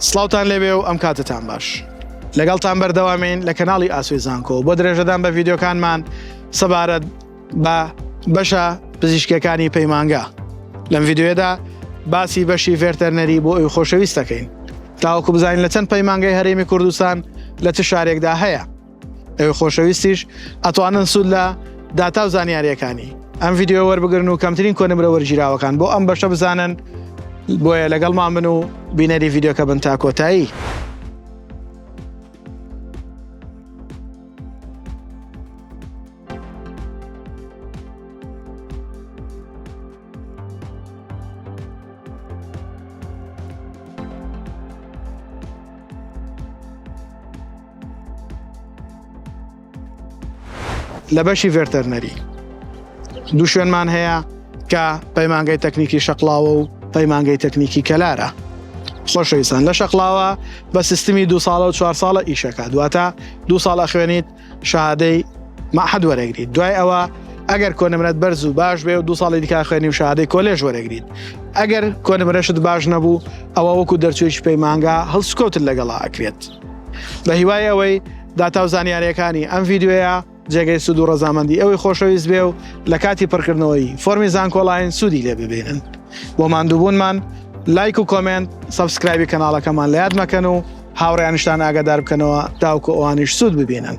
سڵاوتان لێبێ و ئەم کاتەتان باش. لەگەڵتان بەردەوامین لە کەناڵی ئاسۆی زانکۆ بۆ درێژەدان بە ڤیدیۆکانمان سەبارەت بە بەشە پزیشکیەکانی پەیمانگا. لەم ڤیدیۆیەدا باسی بەشی ڤێرتەرنەری بۆ ئەوی خۆشەویست دەکەین تاوەکو بزانین لە چەند پەیمانگای هەرێمی کوردستان لە چ شارێکدا هەیە. ئەوێ خۆشەویستیش ئەتوانن سوود لە داتا و زانیاریەکانی ئەم یددیو وەربگرن و کەمترین کۆنمرە وەرگیراوەکان بۆ ئەم بەشە بزانن بۆیە لەگەڵمان من و بینەری یددیوکە بن تا کۆتایی. لە بەشی ڤێرتەرنەری دوو شوێنمان هەیە کە پەیمانگەی تەکنیکی شەقلاوە و پەیمانگەی تەکنیکی کەلارە خۆشەویستان لە شەقلاوە بە سیستمی دو ساڵە و چوار ساڵە ئیشەکە دواتە دو ساڵە خوێنیت شادەی مەحد وەرەگریت دوای ئەوە ئەگەر کۆنمرەت بەرز و باش بێ و دو ساڵی دیکا خوێنی و شادەی کۆلێژ وەرەگریت ئەگەر کۆنمرەشت باش نەبوو ئەوە وەکو دەرچوێکی پەیمانگا هەڵسکۆتت لەگەڵا ئەکرێت بە هیوای ئەوەی داتا و زانیارەکانی ئەم ڤیددیوەیە جێگەی سوود و ڕزامەندی ئەوەی خۆشەویست بێ و لە کاتی پڕکردنەوەی فۆرمی زانکۆڵین سوودی لێ ببینن بۆ ماندووبوونمان لایک و کۆمنت سبسکرایبی کەناڵەکەمان لە یاد مەکەن و هاوڕیانشتان ئاگادار بکەنەوە تاوکو ئەوانیش سوود ببینن.